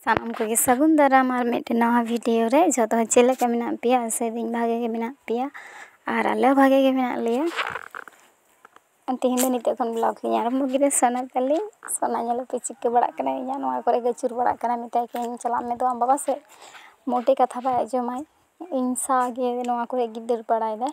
ᱥᱟᱱᱟᱢ ᱠᱚᱜᱮ ᱥᱟᱹᱜᱩᱱ ᱫᱟᱨᱟᱢ ᱟᱨ ᱢᱤᱫᱴᱮᱱ ᱱᱟᱣᱟ ᱵᱷᱤᱰᱤᱭᱳ ᱨᱮ ᱡᱚᱛᱚ ᱦᱚᱲ ᱪᱮᱫ ᱞᱮᱠᱟ ᱢᱮᱱᱟᱜ ᱯᱮᱭᱟ ᱟᱥᱟᱭ ᱫᱟᱹᱧ ᱵᱷᱟᱜᱮ ᱜᱮ ᱢᱮᱱᱟᱜ ᱯᱮᱭᱟ ᱟᱨ ᱟᱞᱮ ᱦᱚᱸ ᱵᱷᱟᱜᱮ ᱜᱮ ᱢᱮᱱᱟᱜ ᱞᱮᱭᱟ ᱛᱮᱦᱮᱧ ᱫᱚ ᱱᱤᱛᱚᱜ ᱠᱷᱚᱱ ᱵᱞᱚᱜᱽ ᱞᱤᱧ ᱟᱨᱟᱢᱵᱚ ᱠᱮᱫᱟ ᱥᱳᱱᱟ ᱛᱟᱞᱮ ᱥᱳᱱᱟ ᱧᱮᱞᱮ ᱯᱮ ᱪᱤᱠᱟᱹ ᱵᱟᱲᱟᱜ ᱠᱟᱱᱟᱭ ᱤᱧᱟᱹᱜ ᱱᱚᱣᱟ ᱠᱚᱨᱮ ᱜᱮ ᱟᱹᱪᱩᱨ ᱵᱟᱲᱟᱜ ᱠᱟᱱᱟᱭ ᱢᱮᱛᱟᱭ ᱠᱟᱹᱱᱟᱹᱧ ᱪᱟᱞᱟᱜ ᱢᱮ ᱫᱩ ᱟᱢ ᱵᱟᱵᱟ ᱥᱮᱫ ᱢᱳᱴᱮ ᱠᱟᱛᱷᱟ ᱵᱟᱭ ᱟᱸᱡᱚᱢᱟᱭ ᱤᱧ ᱥᱟᱶᱜᱮ ᱱᱚᱣᱟ ᱠᱚᱨᱮᱜᱮ ᱫᱟᱹᱲ ᱵᱟᱲᱟᱭ ᱫᱟᱭ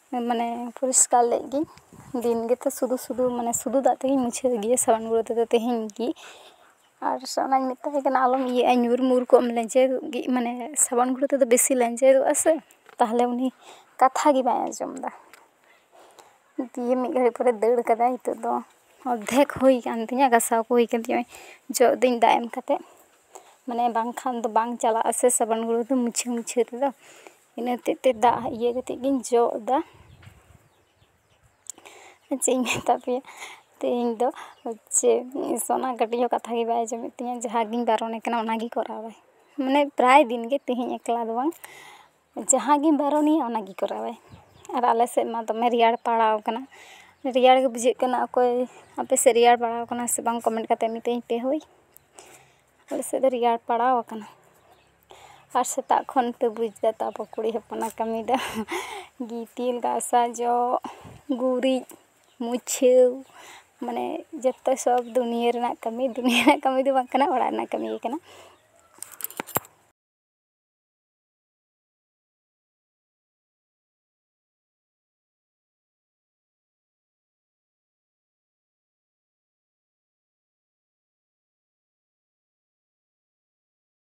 ᱢᱟᱱᱮ ᱯᱚᱨᱤᱥᱠᱟᱨ ᱞᱮᱫ ᱜᱤᱧ ᱫᱤᱱ ᱜᱮᱛᱚ ᱥᱩᱫᱩ ᱥᱩᱫᱩ ᱢᱟᱱᱮ ᱥᱩᱫᱩ ᱫᱟᱜ ᱛᱮᱜᱮᱧ ᱢᱩᱪᱷᱟᱹᱣ ᱜᱮᱭᱟ ᱥᱟᱵᱚᱱ ᱜᱩᱲᱟᱹ ᱛᱮᱫᱚ ᱛᱮᱦᱮᱧ ᱜᱮ ᱟᱨ ᱚᱱᱟᱧ ᱢᱮᱛᱟᱭ ᱠᱟᱱᱟ ᱟᱞᱚᱢ ᱤᱭᱟᱹᱜᱼᱟ ᱧᱩᱨ ᱢᱩᱨ ᱠᱚᱜ ᱟᱢ ᱞᱮᱧᱡᱮᱨᱚᱜ ᱜᱮ ᱢᱟᱱᱮ ᱥᱟᱵᱚᱱ ᱜᱩᱲᱟᱹ ᱛᱮᱫᱚ ᱵᱮᱥᱤ ᱞᱮᱧᱡᱮᱨᱚᱜ ᱟᱥᱮ ᱛᱟᱦᱚᱞᱮ ᱩᱱᱤ ᱠᱟᱛᱷᱟ ᱜᱮ ᱵᱟᱭ ᱟᱸᱡᱚᱢᱫᱟ ᱫᱤᱭᱮ ᱢᱤᱫ ᱜᱷᱟᱹᱲᱤᱡ ᱯᱚᱨᱮ ᱫᱟᱹᱲ ᱠᱟᱫᱟᱭ ᱱᱤᱛᱚᱜ ᱫᱚ ᱚᱨᱫᱷᱮᱠ ᱦᱩᱭ ᱠᱟᱱ ᱛᱤᱧᱟᱹ ᱜᱟᱥᱟᱣ ᱠᱚ ᱦᱩᱭ ᱠᱟᱱ ᱛᱤᱧᱟᱹ ᱡᱚᱜ ᱫᱟᱹᱧ ᱫᱟᱜ ᱮᱢ ᱠᱟᱛᱮ ᱢᱟᱱᱮ ᱵᱟᱝᱠᱷᱟᱱ ᱫᱚ ᱵᱟᱝ ᱪᱟᱞᱟᱜ ᱟᱥᱮ ᱥᱟᱵᱚᱱ ᱜᱩᱲᱟᱹ ᱫᱚ ᱢᱩᱪᱷᱟᱹᱣ ᱢᱩᱪᱷᱟᱹᱣ ᱛᱮᱫᱚ ᱤᱱᱟᱹ ᱦᱚᱛᱮᱫ ᱛᱮ ᱫᱟᱜ ᱤᱭᱟᱹ ᱠᱟᱛᱮᱫ ᱜᱤᱧ ᱡᱚᱜ ᱮᱫᱟ ᱪᱮᱫ ᱤᱧ ᱢᱮᱛᱟ ᱯᱮᱭᱟ ᱛᱮᱦᱮᱧ ᱫᱚ ᱦᱚᱪᱪᱷᱮ ᱥᱳᱱᱟ ᱠᱟᱹᱴᱤᱡ ᱦᱚᱸ ᱠᱟᱛᱷᱟ ᱜᱮ ᱵᱟᱭ ᱟᱸᱡᱚᱢᱮᱫ ᱛᱤᱧᱟᱹ ᱡᱟᱦᱟᱸ ᱜᱤᱧ ᱵᱟᱨᱚᱱᱮ ᱠᱟᱱᱟ ᱚᱱᱟ ᱜᱮ ᱠᱚᱨᱟᱣᱟᱭ ᱢᱟᱱᱮ ᱯᱨᱟᱭ ᱫᱤᱱ ᱜᱮ ᱛᱮᱦᱮᱧ ᱮᱠᱞᱟ ᱫᱚ ᱵᱟᱝ ᱡᱟᱦᱟᱸ ᱜᱤᱧ ᱵᱟᱨᱚᱱᱮᱭᱟ ᱚᱱᱟ ᱜᱮ ᱠᱚᱨᱟᱣᱟᱭ ᱟᱨ ᱟᱞᱮ ᱥᱮᱫ ᱢᱟ ᱫᱚᱢᱮ ᱨᱮᱭᱟᱲ ᱯᱟᱲᱟᱣ ᱠᱟᱱᱟ ᱨᱮᱭᱟᱲ ᱜᱮ ᱵᱩᱡᱷᱟᱹᱜ ᱠᱟᱱᱟ ᱚᱠᱚᱭ ᱟᱯᱮ ᱥᱮᱫ ᱨᱮᱭᱟᱲ ᱯᱟᱲᱟᱣ ᱠᱟᱱᱟ ᱥᱮ ᱵᱟᱝ ᱠᱚᱢᱮᱱᱴ ᱠᱟᱛᱮᱫ ᱢᱤᱛᱟᱹᱧ ᱯᱮ ᱦᱳᱭ ᱟᱞᱮ ᱥᱮᱫ ᱫᱚ ᱨᱮᱭᱟᱲ ᱯᱟᱲᱟᱣ ᱠᱟᱱᱟ ᱟᱨ ᱥᱮᱛᱟᱜ ᱠᱷᱚᱱ ᱯᱮ ᱵᱩᱡᱽ ᱮᱫᱟ ᱛᱚ ᱟᱵᱚ ᱠᱩᱲᱤ ᱦᱚᱯᱚᱱᱟᱜ ᱠᱟᱹᱢᱤ ᱫᱚ ᱜᱤᱛᱤᱞ ᱜᱟᱥᱟᱣ ᱡᱚᱜ ᱜᱩᱨᱤᱡ ᱢᱩᱪᱷᱟᱹᱣ ᱢᱟᱱᱮ ᱡᱚᱛᱚ ᱥᱚᱵ ᱫᱩᱱᱤᱭᱟᱹ ᱨᱮᱱᱟᱜ ᱠᱟᱹᱢᱤ ᱫᱩᱱᱤᱭᱟᱹ ᱨᱮᱱᱟᱜ ᱠᱟᱹᱢᱤ ᱫᱚ ᱵᱟᱝ ᱠᱟᱱᱟ ᱚᱲᱟᱜ ᱨᱮᱱᱟᱜ ᱠᱟᱹᱢᱤ ᱜᱮ ᱠᱟᱱᱟ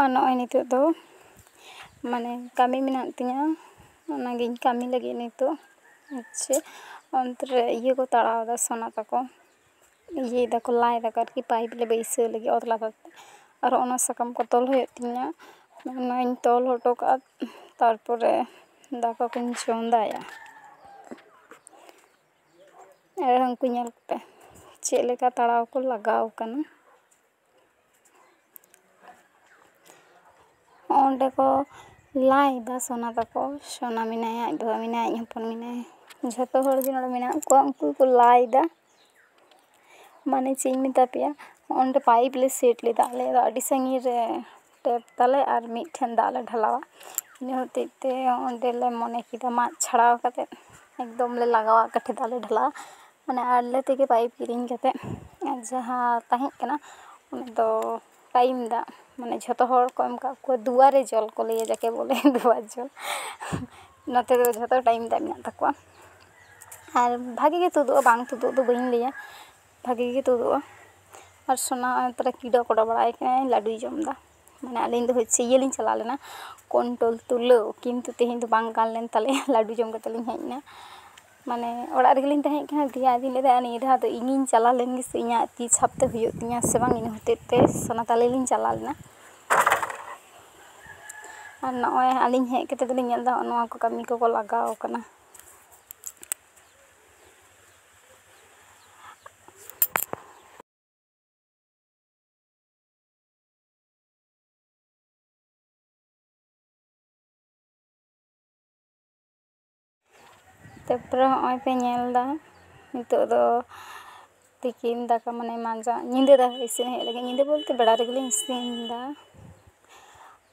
ᱟᱨ ᱱᱚᱜᱼᱚᱭ ᱱᱤᱛᱳᱜ ᱫᱚ ᱢᱟᱱᱮ ᱠᱟᱹᱢᱤ ᱢᱮᱱᱟᱜ ᱛᱤᱧᱟᱹ ᱚᱱᱟᱜᱤᱧ ᱠᱟᱹᱢᱤ ᱞᱟᱹᱜᱤᱫ ᱱᱤᱛᱳᱜ ᱦᱚᱪᱪᱷᱮ ᱚᱱᱛᱮ ᱨᱮ ᱤᱭᱟᱹ ᱠᱚ ᱛᱟᱲᱟᱣᱫᱟ ᱥᱚᱱᱟ ᱛᱟᱠᱚ ᱤᱭᱟᱹᱭ ᱫᱟᱠᱚ ᱞᱟᱭ ᱫᱟᱠᱚ ᱟᱨᱠᱤ ᱯᱟᱭᱤᱯ ᱞᱮ ᱵᱟᱹᱭᱥᱟᱹᱣ ᱞᱟᱹᱜᱤᱫ ᱚᱛ ᱞᱟᱛᱟᱨ ᱛᱮ ᱟᱨᱚ ᱚᱱᱟ ᱥᱟᱠᱟᱢ ᱠᱚ ᱛᱚᱞ ᱦᱩᱭᱩᱜ ᱛᱤᱧᱟᱹ ᱚᱱᱟᱧ ᱛᱚᱞ ᱦᱚᱴᱚ ᱠᱟᱜᱼᱟ ᱛᱟᱨᱯᱚᱨᱮ ᱫᱟᱠᱟ ᱠᱚᱧ ᱪᱚᱸᱫᱟᱭᱟ ᱟᱨ ᱩᱱᱠᱩ ᱧᱮᱞ ᱠᱟᱛᱮ ᱪᱮᱫ ᱞᱮᱠᱟ ᱛᱟᱲᱟᱣ ᱠᱚ ᱞᱟᱜᱟᱣ ᱠᱟᱱᱟ ᱚᱸᱰᱮ ᱠᱚ ᱞᱟᱭᱫᱟ ᱥᱚᱱᱟ ᱛᱟᱠᱚ ᱥᱚᱱᱟ ᱢᱮᱱᱟᱭᱟ ᱟᱡ ᱵᱟᱵᱟ ᱢᱮᱱᱟᱭᱟ ᱟᱡ ᱦᱚᱯᱚᱱ ᱢᱮᱱᱟᱭᱟ ᱡᱷᱚᱛᱚ ᱦᱚᱲ ᱜᱮ ᱱᱚᱰᱮ ᱢᱮᱱᱟᱜ ᱠᱚᱣᱟ ᱩᱱᱠᱩ ᱠᱚ ᱞᱟᱭᱫᱟ ᱢᱟᱱᱮ ᱪᱮᱫ ᱤᱧ ᱢᱮᱛᱟ ᱯᱮᱭᱟ ᱚᱸᱰᱮ ᱯᱟᱭᱤᱯ ᱞᱮ ᱥᱮᱴ ᱞᱮᱫᱟ ᱟᱞᱮ ᱫᱚ ᱟᱹᱰᱤ ᱥᱟᱺᱜᱤᱧ ᱨᱮ ᱴᱮᱯ ᱛᱟᱞᱮ ᱟᱨ ᱢᱤᱫ ᱴᱷᱮᱱ ᱫᱟᱜ ᱞᱮ ᱰᱷᱟᱞᱟᱣᱟ ᱤᱱᱟᱹ ᱦᱚᱛᱮᱡ ᱛᱮ ᱚᱸᱰᱮ ᱞᱮ ᱢᱚᱱᱮ ᱠᱮᱫᱟ ᱢᱟᱜ ᱪᱷᱟᱲᱟᱣ ᱠᱟᱛᱮ ᱮᱠᱫᱚᱢ ᱞᱮ ᱞᱟᱜᱟᱣᱟ ᱠᱟᱹᱴᱷᱤ ᱫᱟᱜ ᱞᱮ ᱰᱷᱟᱞᱟᱣᱟ ᱢᱟᱱᱮ ᱟᱞᱮ ᱛᱮᱜᱮ ᱯᱟᱭᱤᱯ ᱠᱤᱨᱤᱧ ᱠᱟᱛᱮ ᱟᱨ ᱡᱟᱦᱟᱸ ᱛᱟᱦᱮᱸ ᱠᱟᱱᱟ ᱚᱱᱟ ᱫᱚ ᱴᱟᱭᱤᱢ ᱫᱟᱜ ᱢᱟᱱᱮ ᱡᱷᱚᱛᱚ ᱦᱚᱲ ᱠᱚ ᱮᱢ ᱠᱟᱜ ᱠᱚᱣᱟ ᱫᱩᱣᱟᱨᱮ ᱡᱚᱞ ᱠᱚ ᱞᱟᱹᱭᱟ ᱡᱟᱠᱮ ᱵᱚᱞᱮ ᱫᱩᱣᱟᱨ ᱡᱚᱞ ᱱᱚᱛᱮ ᱫᱚ ᱡᱷᱚᱛᱚ ᱴᱟᱭᱤᱢ ᱫᱟᱜ ᱢᱮᱱᱟᱜ ᱛᱟᱠᱚᱣᱟ ᱟᱨ ᱵᱷᱟᱜᱮ ᱜᱮ ᱛᱩᱫᱩᱜᱼᱟ ᱵᱟᱝ ᱛᱩᱫᱩᱜ ᱫᱚ ᱵᱟᱹᱧ ᱞᱟᱹᱭᱟ ᱵᱷᱟᱜᱮ ᱜᱮ ᱛᱩᱫᱩᱜᱼᱟ ᱟᱨ ᱥᱚᱱᱟ ᱛᱟᱦᱚᱞᱮ ᱠᱤᱰᱟ ᱠᱚᱰᱟ ᱵᱟᱲᱟᱭ ᱠᱟᱱᱟᱭ ᱞᱟᱹᱰᱩᱭ ᱡᱚᱢᱫᱟ ᱢᱟᱱᱮ ᱟᱹᱞᱤᱧ ᱫᱚ ᱦᱚᱪᱪᱷᱮ ᱤᱭᱟᱹ ᱞᱤᱧ ᱪᱟᱞᱟᱣ ᱞᱮᱱᱟ ᱠᱳᱱᱴᱳᱞ ᱛᱩᱞᱟᱹᱣ ᱠᱤᱱᱛᱩ ᱛᱮᱦᱮᱧ ᱫᱚ ᱵᱟᱝ ᱜᱟᱱ ᱞᱮᱱ ᱛᱟᱞᱮᱭᱟ ᱞᱟᱹᱰᱩ ᱡᱚᱢ ᱠᱟᱛᱮ ᱞᱤᱧ ᱦᱮᱡ ᱮᱱᱟ ᱢᱟᱱᱮ ᱚᱲᱟᱜ ᱨᱮᱜᱮ ᱞᱤᱧ ᱛᱟᱦᱮᱸ ᱠᱟᱱᱟ ᱫᱤᱭᱮ ᱟᱫᱚᱧ ᱞᱟᱹᱭᱫᱟ ᱱᱤᱭᱟᱹ ᱫᱷᱟᱣ ᱫᱚ ᱤᱧᱤᱧ ᱪᱟᱞᱟᱣ ᱞᱮᱱ ᱜᱮᱥᱮ ᱤᱧᱟᱹᱜ ᱛᱤ ᱪᱷᱟᱯ ᱛᱮ ᱦᱩᱭᱩᱜ ᱛᱤᱧᱟᱹ ᱥᱮ ᱵᱟᱝ ᱤᱱᱟᱹ ᱦᱚᱛᱮᱡ ᱛᱮ ᱥᱚᱱᱟ ᱛᱟᱞᱮ ᱞᱤᱧ ᱪᱟᱞᱟᱣ ᱞᱮᱱᱟ ᱟᱨ ᱱᱚᱜᱼᱚᱭ ᱟᱹᱞᱤᱧ ᱦᱮᱡ ᱠᱟᱛᱮ ᱫᱚᱞᱤᱧ ᱧᱮᱞᱫᱟ ᱱᱚᱜᱼᱚ ᱱᱚᱣᱟ ᱠᱚ ᱠᱟᱹᱢᱤ ᱠᱚᱠᱚ ᱞᱟᱜᱟᱣ ᱠᱟᱱᱟ ᱛᱟᱨᱯᱚᱨᱮ ᱦᱚᱸᱜᱼᱚᱭ ᱯᱮ ᱧᱮᱞᱫᱟ ᱱᱤᱛᱳᱜ ᱫᱚ ᱛᱤᱠᱤᱱ ᱫᱟᱠᱟ ᱢᱟᱱᱮ ᱢᱟᱸᱡᱟᱱ ᱧᱤᱫᱟᱹ ᱫᱟᱠᱟ ᱤᱥᱤᱱ ᱦᱩᱭᱩᱜ ᱞᱟᱹᱜᱤᱫ ᱧᱤᱫᱟᱹ ᱵᱚᱞᱛᱮ ᱵᱮᱲᱟ ᱨᱮᱜᱮᱞᱤᱧ ᱤᱥᱤᱱᱫᱟ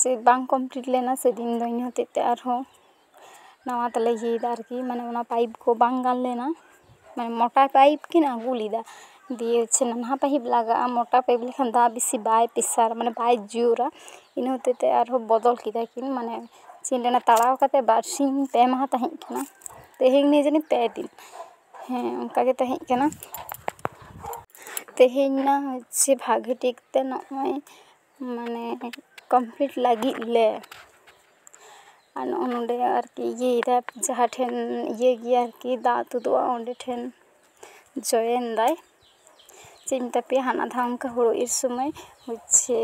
ᱥᱮ ᱵᱟᱝ ᱠᱚᱢᱯᱞᱤᱴ ᱞᱮᱱᱟ ᱥᱮᱫᱤᱱ ᱫᱚ ᱤᱱᱟᱹ ᱦᱚᱛᱮᱡ ᱛᱮ ᱟᱨᱦᱚᱸ ᱱᱟᱣᱟ ᱛᱮᱞᱮ ᱤᱭᱟᱹᱭᱫᱟ ᱟᱨᱠᱤ ᱢᱟᱱᱮ ᱚᱱᱟ ᱯᱟᱭᱤᱯ ᱠᱚ ᱵᱟᱝ ᱜᱟᱱ ᱞᱮᱱᱟ ᱢᱟᱱᱮ ᱢᱚᱴᱟ ᱯᱟᱭᱤᱯ ᱠᱤᱱ ᱟᱹᱜᱩ ᱞᱮᱫᱟ ᱫᱤᱭᱮ ᱦᱚᱪᱪᱷᱮ ᱱᱟᱱᱦᱟ ᱯᱟᱭᱤᱯ ᱞᱟᱜᱟᱜᱼᱟ ᱢᱚᱴᱟ ᱯᱟᱭᱤᱯ ᱞᱮᱠᱷᱟᱱ ᱫᱟᱜ ᱵᱮᱥᱤ ᱵᱟᱭ ᱯᱮᱥᱟᱨ ᱢᱟᱱᱮ ᱵᱟᱭ ᱡᱳᱨᱟ ᱤᱱᱟᱹ ᱦᱚᱛᱮᱡ ᱛᱮ ᱟᱨᱦᱚᱸ ᱵᱚᱫᱚᱞ ᱠᱮᱫᱟ ᱠᱤᱱ ᱢᱟᱱᱮ ᱪᱮᱫ ᱤᱧ ᱞᱟᱹᱭᱟ ᱛᱟᱲᱟᱣ ᱠᱟᱛᱮ ᱵᱟᱨᱥᱤᱧ ᱯᱮ ᱢᱟᱦᱟ ᱛᱟᱦᱮᱸ ᱠᱟᱱᱟ ᱛᱮᱦᱮᱧ ᱱᱤᱭᱟᱹ ᱡᱟᱹᱱᱤᱡ ᱯᱮ ᱫᱤᱱ ᱦᱮᱸ ᱚᱱᱠᱟ ᱜᱮ ᱛᱟᱦᱮᱸ ᱠᱟᱱᱟ ᱛᱮᱦᱮᱧ ᱢᱟ ᱦᱚᱪᱪᱷᱮ ᱵᱷᱟᱜᱮ ᱴᱷᱤᱠ ᱛᱮ ᱱᱚᱜᱼᱚᱭ ᱢᱟᱱᱮ ᱠᱚᱢᱯᱤᱞᱤᱴ ᱞᱟᱹᱜᱤᱫ ᱞᱮ ᱟᱨ ᱱᱚᱜᱼᱚᱭ ᱱᱚᱰᱮ ᱟᱨᱠᱤ ᱤᱭᱟᱹᱭ ᱫᱟᱭ ᱡᱟᱦᱟᱸ ᱴᱷᱮᱱ ᱤᱭᱟᱹ ᱜᱮᱭᱟ ᱟᱨᱠᱤ ᱫᱟᱜ ᱛᱩᱫᱩᱜᱼᱟ ᱚᱸᱰᱮ ᱴᱷᱮᱱ ᱡᱚᱭᱮᱱ ᱫᱟᱭ ᱪᱮᱫ ᱤᱧ ᱢᱮᱛᱟ ᱯᱮᱭᱟ ᱦᱟᱱᱟ ᱫᱷᱟᱣ ᱚᱱᱠᱟ ᱦᱳᱲᱳ ᱤᱨ ᱥᱚᱢᱚᱭ ᱦᱚᱪᱪᱷᱮ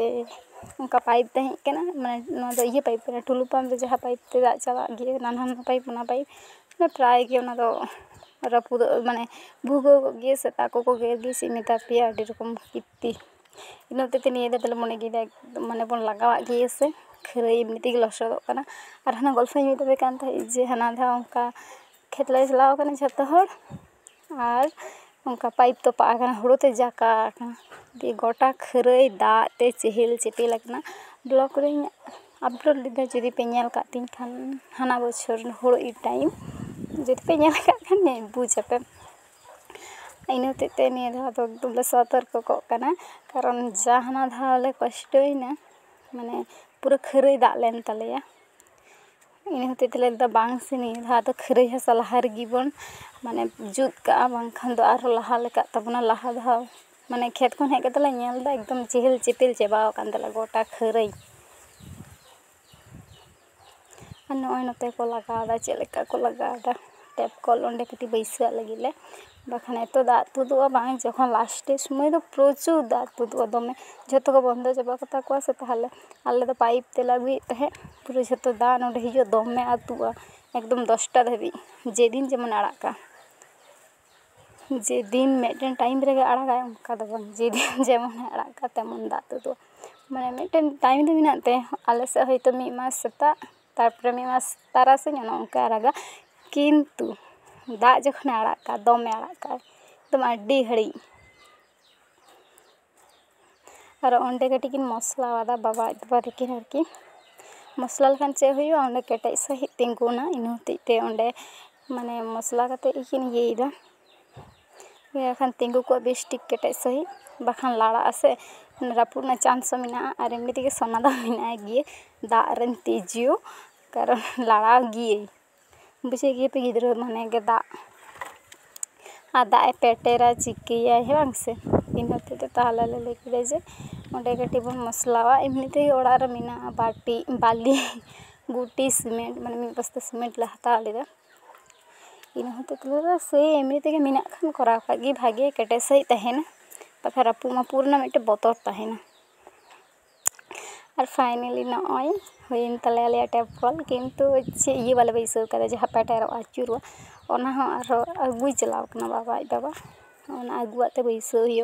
ᱚᱱᱠᱟ ᱯᱟᱭᱤᱯ ᱛᱟᱦᱮᱸ ᱠᱟᱱᱟ ᱢᱟᱱᱮ ᱱᱚᱣᱟ ᱫᱚ ᱤᱭᱟᱹ ᱯᱟᱭᱤᱯ ᱠᱟᱱᱟ ᱴᱩᱞᱩ ᱯᱟᱢᱯ ᱨᱮ ᱡᱟᱦᱟᱸ ᱯᱟᱭᱤᱯ ᱛᱮ ᱫᱟᱜ ᱪᱟᱞᱟᱜ ᱜᱮ ᱦᱟᱱᱟ ᱱᱚᱣᱟ ᱯᱟᱭᱤᱯ ᱚᱱᱟ ᱯᱟᱭᱤᱯ ᱢᱟᱱᱮ ᱯᱨᱟᱭ ᱜᱮ ᱚᱱᱟ ᱫᱚ ᱨᱟᱹᱯᱩᱫᱚᱜ ᱢᱟᱱᱮ ᱵᱷᱩᱜᱟᱹᱜᱚᱜ ᱜᱮᱭᱟ ᱥᱮᱛᱟ ᱠᱚᱠᱚ ᱜᱮᱨ ᱜᱮᱭᱟ ᱪᱮᱫ ᱤᱧ ᱢᱮᱛᱟ ᱯᱮᱭᱟ ᱟᱹᱰᱤ ᱨᱚᱠᱚᱢ ᱠᱤᱨᱛᱤ ᱤᱱᱟᱹ ᱦᱚᱛᱮᱡ ᱛᱮ ᱱᱤᱭᱟᱹ ᱫᱷᱟᱣ ᱫᱚᱞᱮ ᱢᱚᱱᱮ ᱠᱮᱫᱟ ᱢᱟᱱᱮ ᱵᱚᱱ ᱞᱟᱜᱟᱣᱟᱜ ᱜᱮ ᱥᱮ ᱠᱷᱟᱹᱨᱟᱹᱭ ᱮᱢᱱᱤ ᱛᱮᱜᱮ ᱞᱚᱥᱚᱫᱚᱜ ᱠᱟᱱᱟ ᱟᱨ ᱦᱟᱱᱮ ᱜᱚᱞᱯᱷᱚᱧ ᱞᱟᱹᱭᱟᱯᱮ ᱠᱟᱱ ᱛᱟᱦᱮᱸᱫ ᱡᱮ ᱦᱟᱱᱟ ᱫᱷᱟᱣ ᱚᱱᱠᱟ ᱠᱷᱮᱛ ᱞᱮ ᱪᱟᱞᱟᱣ ᱟᱠᱟᱱᱟ ᱡᱷᱚᱛᱚ ᱦᱚᱲ ᱟᱨ ᱚᱱᱠᱟ ᱯᱟᱭᱤᱯ ᱛᱚᱯᱟᱜ ᱟᱠᱟᱱᱟ ᱦᱳᱲᱳ ᱛᱮ ᱡᱟᱠᱟ ᱟᱠᱟᱱᱟ ᱫᱤᱭᱮ ᱜᱚᱴᱟ ᱠᱷᱟᱹᱨᱟᱹᱭ ᱫᱟᱜ ᱛᱮ ᱪᱮᱦᱮᱞ ᱪᱮᱯᱮᱞ ᱟᱠᱟᱱᱟ ᱵᱞᱚᱠ ᱨᱮᱧ ᱟᱯᱞᱳᱰ ᱞᱮᱫᱟ ᱡᱩᱫᱤ ᱯᱮ ᱧᱮᱞ ᱟᱠᱟᱫ ᱛᱤᱧ ᱠᱷᱟᱱ ᱦᱟᱱᱟ ᱵᱚᱪᱷᱚᱨ ᱦᱳᱲᱳ ᱤᱨ ᱴᱟᱭᱤᱢ ᱡᱩᱫᱤ ᱯᱮ ᱧᱮᱞ ᱟᱠᱟᱫ ᱠᱷᱟᱱ ᱵᱩᱡᱽ ᱟᱯᱮ ᱤᱱᱟᱹ ᱦᱚᱛᱮᱡ ᱛᱮ ᱱᱤᱭᱟᱹ ᱫᱷᱟᱣ ᱫᱚ ᱮᱠᱫᱚᱢ ᱞᱮ ᱥᱚᱛᱚᱨᱠᱚ ᱠᱚᱜ ᱠᱟᱱᱟ ᱠᱟᱨᱚᱱ ᱡᱟ ᱦᱟᱱᱟ ᱫᱷᱟᱣ ᱞᱮ ᱠᱚᱥᱴᱚᱭᱮᱱᱟ ᱢᱟᱱᱮ ᱯᱩᱨᱟᱹ ᱠᱷᱟᱹᱨᱟᱹᱭ ᱫᱟᱜ ᱞᱮᱱ ᱛᱟᱞᱮᱭᱟ ᱤᱱᱟᱹ ᱦᱚᱛᱮᱡ ᱛᱮᱞᱮ ᱞᱟᱹᱭᱫᱟ ᱵᱟᱝ ᱥᱮ ᱱᱤᱭᱟᱹ ᱫᱷᱟᱣ ᱫᱚ ᱠᱷᱟᱹᱨᱟᱹᱭ ᱦᱟᱥᱟ ᱞᱟᱦᱟ ᱨᱮᱜᱮ ᱵᱚᱱ ᱢᱟᱱᱮ ᱡᱩᱛ ᱠᱟᱜᱼᱟ ᱵᱟᱝᱠᱷᱟᱱ ᱫᱚ ᱟᱨᱦᱚᱸ ᱞᱟᱦᱟ ᱞᱮᱠᱟᱜ ᱛᱟᱵᱚᱱᱟ ᱞᱟᱦᱟ ᱫᱷᱟᱣ ᱢᱟᱱᱮ ᱠᱷᱮᱛ ᱠᱷᱚᱱ ᱦᱮᱡ ᱠᱟᱛᱮ ᱞᱮ ᱧᱮᱞᱫᱟ ᱮᱠᱫᱚᱢ ᱪᱮᱦᱮᱞ ᱪᱮᱯᱮᱞ ᱪᱟᱵᱟᱣ ᱟᱠᱟᱱ ᱛᱟᱞᱮᱭᱟ ᱜᱚᱴᱟ ᱠᱷᱟᱹᱨᱟᱹᱭ ᱟᱨ ᱱᱚᱜᱼᱚᱭ ᱱᱚᱛᱮ ᱠᱚ ᱞᱟᱜᱟᱣᱫᱟ ᱪᱮᱫ ᱞᱮᱠᱟ ᱠᱚ ᱞᱟᱜᱟᱣᱫᱟ ᱴᱮᱯ ᱠᱚᱞ ᱚᱸᱰᱮ ᱠᱟᱹᱴᱤᱡ ᱵᱟᱹᱭᱥᱟᱹᱣᱟᱜ ᱞᱟᱹᱜᱤᱫ ᱞᱮ ᱵᱟᱠᱷᱟᱱ ᱮᱛᱚ ᱫᱟᱜ ᱛᱩᱫᱩᱜᱼᱟ ᱵᱟᱝ ᱡᱚᱠᱷᱚᱱ ᱞᱟᱥᱴᱮ ᱥᱩᱢᱟᱹᱭ ᱫᱚ ᱯᱨᱚᱪᱩᱨ ᱫᱟᱜ ᱛᱩᱫᱩᱜᱼᱟ ᱫᱚᱢᱮ ᱡᱷᱚᱛᱚ ᱠᱚ ᱵᱚᱱᱫᱚ ᱪᱟᱵᱟ ᱠᱟᱛᱟ ᱠᱚᱣᱟ ᱥᱮ ᱛᱟᱦᱚᱞᱮ ᱟᱞᱮ ᱫᱚ ᱯᱟᱭᱤᱯ ᱛᱮᱞᱮ ᱟᱹᱜᱩᱭᱮᱫ ᱛᱟᱦᱮᱸᱫ ᱯᱩᱨᱟᱹ ᱡᱷᱚᱛᱚ ᱫᱟᱜ ᱱᱚᱰᱮ ᱦᱤᱡᱩᱜᱼᱟ ᱫᱚᱢᱮ ᱟᱹᱛᱩᱜᱼᱟ ᱮᱠᱫᱚᱢ ᱫᱚᱥᱴᱟ ᱫᱷᱟᱹᱵᱤᱡ ᱡᱮᱫᱤᱱ ᱡᱮᱢᱚᱱᱮ ᱟᱲᱟᱜ ᱠᱟᱜ ᱡᱮᱫᱤᱱ ᱢᱤᱫᱴᱮᱱ ᱴᱟᱭᱤᱢ ᱨᱮᱜᱮ ᱟᱲᱟᱜᱟᱭ ᱚᱱᱠᱟ ᱫᱚ ᱵᱟᱝ ᱡᱮᱫᱤᱱ ᱡᱮᱢᱚᱱᱮ ᱟᱲᱟᱜ ᱠᱟᱜ ᱛᱮᱢᱚᱱ ᱫᱟᱜ ᱛᱩᱫᱩᱜᱼᱟ ᱢᱟᱱᱮ ᱢᱤᱫᱴᱮᱱ ᱴᱟᱭᱤᱢ ᱫᱚ ᱢᱮᱱᱟᱜ ᱛᱟᱭᱟ ᱟᱞᱮ ᱥᱮᱫ ᱦᱚᱭᱛᱳ ᱢᱤᱫ ᱢᱟᱥ ᱥᱮᱛᱟᱜ ᱛᱟᱨᱯᱚᱨᱮ ᱢᱤᱫ ᱢᱟᱥ ᱛᱟᱨᱟᱥᱤᱧ ᱚᱱᱮ ᱚᱱᱠᱟᱭ ᱟᱨᱟᱜᱟ ᱠᱤᱱᱛᱩ ᱫᱟᱜ ᱡᱚᱠᱷᱚᱱᱮ ᱟᱲᱟᱜ ᱠᱟᱜᱼᱟ ᱫᱚᱢᱮ ᱟᱲᱟᱜ ᱠᱟᱜᱼᱟᱭ ᱮᱠᱫᱚᱢ ᱟᱹᱰᱤ ᱜᱷᱟᱹᱲᱤᱡ ᱟᱨ ᱚᱸᱰᱮ ᱠᱟᱹᱴᱤᱡ ᱠᱤᱱ ᱢᱚᱥᱞᱟ ᱟᱫᱟ ᱵᱟᱵᱟ ᱟᱡ ᱵᱟᱵᱟ ᱛᱟᱹᱠᱤᱱ ᱟᱨᱠᱤ ᱢᱚᱥᱞᱟ ᱞᱮᱠᱷᱟᱱ ᱪᱮᱫ ᱦᱩᱭᱩᱜᱼᱟ ᱚᱸᱰᱮ ᱠᱮᱴᱮᱡ ᱥᱟᱺᱦᱤᱡ ᱛᱤᱸᱜᱩᱱᱟ ᱤᱱᱟᱹ ᱦᱚᱛᱮᱡ ᱛᱮ ᱚᱸᱰᱮ ᱢᱟᱱᱮ ᱢᱚᱥᱞᱟ ᱠᱟᱛᱮ ᱜᱮᱠᱤᱱ ᱤᱭᱟᱹᱭᱮᱫᱟ ᱤᱱᱟᱹ ᱠᱷᱟᱱ ᱛᱤᱸᱜᱩ ᱠᱚᱜ ᱵᱮᱥ ᱴᱷᱤᱠ ᱠᱮᱴᱮᱡ ᱥᱟᱺᱦᱤᱡ ᱵᱟᱠᱷᱟᱱ ᱞᱟᱲᱟᱜ ᱟᱥᱮ ᱨᱟᱹᱯᱩᱫ ᱨᱮᱱᱟᱜ ᱪᱟᱱᱥ ᱦᱚᱸ ᱢᱮᱱᱟᱜᱼᱟ ᱟᱨ ᱮᱢᱱᱤ ᱛᱮᱜᱮ ᱥᱚᱱᱟ ᱫᱚ ᱢᱮᱱᱟᱭ ᱜᱮᱭᱟᱭ ᱫᱟᱜ ᱨᱮᱱ ᱛᱤᱡᱩ ᱠᱟᱨᱚᱱ ᱞᱟᱲᱟᱣ ᱜᱮᱭᱟᱹᱧ ᱵᱩᱡᱷᱟᱹᱣᱮᱫ ᱜᱮᱭᱟᱯᱮ ᱜᱤᱫᱽᱨᱟᱹ ᱢᱟᱱᱮ ᱜᱮ ᱫᱟᱜ ᱟᱨ ᱫᱟᱜ ᱮ ᱯᱮᱴᱮᱨᱟ ᱪᱤᱠᱟᱹᱭᱟᱭ ᱦᱮᱸ ᱵᱟᱝ ᱥᱮ ᱤᱱᱟᱹ ᱦᱚᱛᱮᱡ ᱛᱮ ᱛᱟᱦᱚᱞᱮ ᱞᱮ ᱞᱟᱹᱭ ᱠᱮᱫᱟ ᱡᱮ ᱚᱸᱰᱮ ᱠᱟᱹᱴᱤᱡ ᱵᱚᱱ ᱢᱚᱥᱞᱟᱣᱟ ᱮᱢᱱᱤ ᱛᱮᱜᱮ ᱚᱲᱟᱜ ᱨᱮ ᱢᱮᱱᱟᱜᱼᱟ ᱵᱟᱹᱴᱤ ᱵᱟᱹᱞᱤ ᱜᱩᱴᱤ ᱥᱤᱢᱮᱱᱴ ᱢᱟᱱᱮ ᱢᱤᱫ ᱵᱚᱥᱛᱟ ᱥᱤᱢᱮᱱᱴ ᱞᱮ ᱦᱟᱛᱟᱣ ᱞᱮᱫᱟ ᱤᱱᱟᱹ ᱦᱚᱛᱮᱡ ᱛᱮ ᱞᱟᱹᱭᱫᱟ ᱥᱮ ᱮᱢᱱᱤ ᱛᱮᱜᱮ ᱢᱮᱱᱟᱜ ᱠᱷᱟᱱ ᱠᱚᱨᱟᱣ ᱠᱟᱜ ᱜᱮ ᱵᱷᱟᱜᱮ ᱠᱮᱴᱮᱡ ᱥᱟᱺᱦᱤᱡ ᱛᱟᱦᱮᱱᱟ ᱵᱟᱠᱷᱟᱡ ᱨᱟᱹᱯᱩᱫ ᱢᱟᱹᱯᱩᱫ ᱨᱮᱱᱟᱜ ᱢᱤᱫᱴᱮᱡ ᱵᱚᱛᱚᱨ ᱛᱟᱦᱮᱱᱟ ᱟᱨ ᱯᱷᱟᱭᱱᱮᱞᱤ ᱱᱚᱜᱼᱚᱭ ᱦᱩᱭᱮᱱ ᱛᱟᱞᱮᱭᱟ ᱟᱞᱮᱭᱟᱜ ᱴᱮᱯ ᱠᱚᱞ ᱠᱤᱱᱛᱩ ᱪᱮᱫ ᱤᱭᱟᱹ ᱵᱟᱞᱮ ᱵᱟᱹᱭᱥᱟᱹᱣ ᱠᱟᱫᱟ ᱡᱟᱦᱟᱸ ᱯᱮᱴᱮᱨᱚᱜᱼᱟ ᱟᱹᱪᱩᱨᱚᱜᱼᱟ ᱚᱱᱟ ᱦᱚᱸ ᱟᱨᱦᱚᱸ ᱟᱹᱜᱩᱭ ᱪᱟᱞᱟᱣ ᱠᱟᱱᱟ ᱵᱟᱵᱟ ᱟᱡ ᱵᱟᱵᱟ ᱚᱱᱟ ᱟᱹᱜᱩᱣᱟᱜ ᱛᱮ ᱵᱟᱹᱭᱥᱟᱹᱣ ᱦᱩᱭᱩᱜᱼᱟ